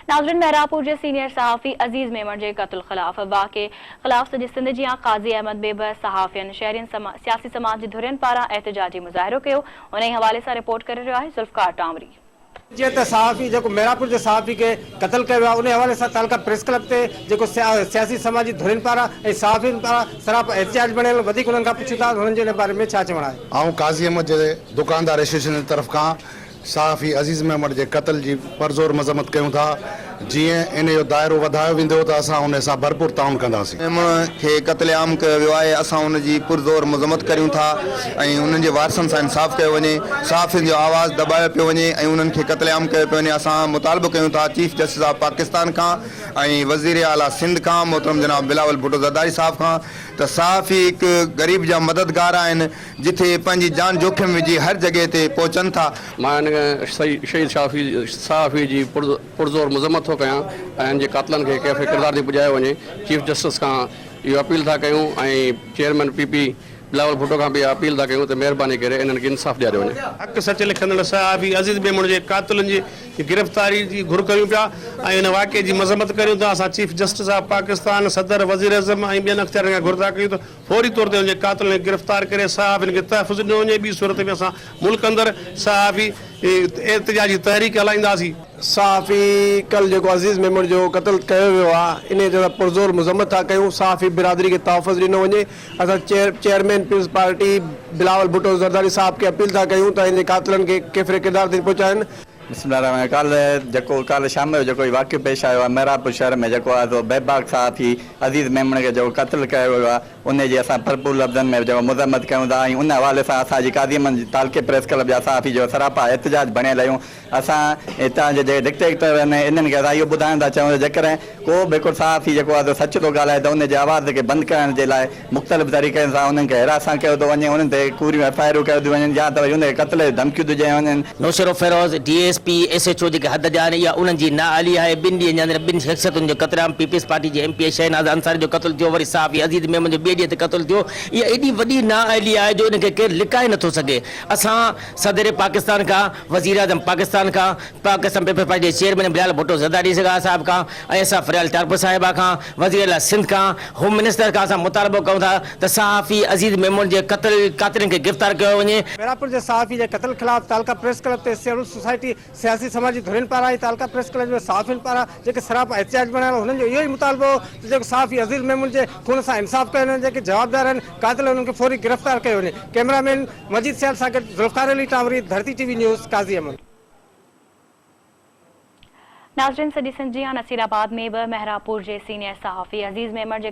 ناظرين مهراپور جي سينيئر صحافي عزيز ميمڻ جي قتل خلاف واقعي خلاف سڄي سنڌ جيان قاضي احمد بيبه صحافين شهرين سما سياسي سماج جي ڌرين پاران احتجاجي مظاهرو ڪيو ان ئي حوالي سان رپورٽ ڪري رهيو آهي ذوالفقار ٽانوري. جيئن ته صحافي جيڪو مهراپور جي صحافي کي قتل ڪيو ويو آهي ان ئي حوالي سان تعلقه پريس ڪلب تي جيڪو سيا سياسي سماجي ڌرين پاران ۽ صحافين پاران سراپا احتجاج بڻيل وڌيڪ انهن کان پڇون ٿا ته انهن جو ان باري ۾ ڇا چوڻ آهي. آئون قاضي احمد جي دڪاندار ايسوسيئيشن جي طرف کان صحافي عزيز ميمڻ جي قتل جي پرزور مذمت ڪيون ٿا، جيئن ان جو دائرو وڌايو ويندو ته اسان ان سان ڀرپور تعاون ڪنداسين. ميمڻ کي قتل عام ڪيو ويو آهي، اسان ان جي پرزور مذمت ڪريون ٿا ۽ انهن جي وارثن سان انصاف ڪيو وڃي، صحافين جو آواز دٻايو پيو وڃي ۽ انهن کي قتل عام ڪيو پيو وڃي، اسان مطالبو ڪيون ٿا چيف جسٽس آف پاڪستان کان ۽ وزير اعليٰ سنڌ کان محترم جناب بلاول ڀٽو زرداري صاحب کان ته صحافي هڪ غريب جا مددگار آهن، جتي پنهنجي جان جوکم وجهي هر جڳهه تي پهچن ٿا. مان هن شهيد صحافي جي پرزور مذمت ٿو ڪيان ۽ هن جي قاتلن کي ڪيف ڪردار تي پڄايو وڃي، چيف جسٽس کان اهو اپيل ٿا ڪيون ۽ chairman P P Bilawal Bhutto کان به اها اپيل ٿا ڪيون ته مهرباني ڪري انهن کي انصاف ڏياريو وڃي. حق سچ لکندڙ صحافي عزيز ميمڻ جي قاتلن جي گرفتاري جي گهر ڪريون پيا ۽ ان واقعي جي مذمت ڪريون ٿا، اسان چيف جسٽس آف پاڪستان، صدر، وزيراعظم ۽ ٻين اختيارين کان گهر ٿا ڪيون ته فوري طور تي ان جي قاتلن کي گرفتار ڪري صحافين کي تحفظ ڏنو وڃي، ٻي صورت ۾ اسان ملڪ اندر صحافي احتجاجي تحريڪ هلائينداسين. صحافي ڪل جيڪو عزيز ميمڻ جو قتل ڪيو ويو آ انهي جي اسان پرزور مذمت ٿا ڪيون، صحافي برادري کي تحفظ ڏنو وڃي، اسان chairman peoples party Bilawal Bhutto Zardari صاحب کي اپيل ٿا ڪيون ته ان جي قاتلن کي ڪيفر ڪردار تائين پهچائين. بسم الله الرحمٰن ڪالهه جيڪو ڪالهه شام جو جيڪو هي واقعو پيش آيو آهي محراب پور شهر ۾ جيڪو آهي سو بي باڪ صحافي عزيز ميمڻ کي جيڪو قتل ڪيو ويو آهي انهي جي اسان ڀرپور لفظن ۾ جيڪو مذمت ڪيون ٿا ۽ ان حوالي سان اسان جي قاضي احمد تعلقي پريس ڪلب جا صحافي جيڪو سراپا احتجاج بڻيل آهيون اسان هتان جي جيڪي ڊڪٽيڪٽر آهن انهن کي اسان اهو ٻڌائڻ ٿا چاهيون ته جيڪڏهن ڪو به هڪڙو صحافي جيڪو آهي سو سچ ٿو ڳالهائي ته ان جي آواز کي بند ڪرائڻ جي لاء مختلف طريقن سان انهن کي حراسان ڪيو ٿو وڃي انهن تي ڪوريون ايف آء آرون ڪيو ٿيون وڃن يا ته وري ان کي قتل جون ڌمڪيون ٿيون ڏيون وڃن. Naushahro Feroze, D S P, S H O جيڪي حد جا آهن اها انهن جي نااهلي آهي، ٻن ڏينهن جي اندر ٻن شخصيتن جو قتل عام پيپلز پارٽي جي M P A Shahnaz Ansari جو قتل ٿيو وري صحافي عزيز ميمڻ جو ٻئي ڏينهن تي قتل ٿيو اها ايڏي وڏي نااهلي آهي جو ان کي ڪير لڪائي نٿو سگهي اسان صدر پاڪستان کان وزيراعظم پاڪستان کان پاڪ اسمبلي پيپر جي چيئرمين بلال ڀٽو زرداري سگا صاحب کان ۽ اسان فريال ٽالپر صاحبه کان وزير اعليٰ سنڌ کان هوم منسٽر کان اسان مطالبو ڪيون ٿا ته صحافي عزيز ميمڻ جي قتل قاتلين کي گرفتار ڪيو وڃي. ميرپور جي صحافي جي قتل خلاف تعلقه پريس ڪلب تي سيوڙ سوسائٽي، سياسي سماجي ڌرين پاران ۽ تعلقه پريس ڪلب جي صحافين پاران جيڪي سراپا احتجاج بڻايل هو انهن جو اهو ئي مطالبو هو ته جيڪو صحافي عزيز ميمڻ جي خون سان انصاف ڪيو وڃي جيڪي جوابدار آهن قاتل انهن کي فوري گرفتار ڪيو وڃي ڪئميرا مين مجيد سيال سان گڏ Zulfiqar Ali Tanwari Dharti T V news Qazi Ahmed. ناظرين سڄي سنڌ جيان نصيرآباد ۾ به مهراب پور جي سينئر صحافي عزيز ميمڻ جي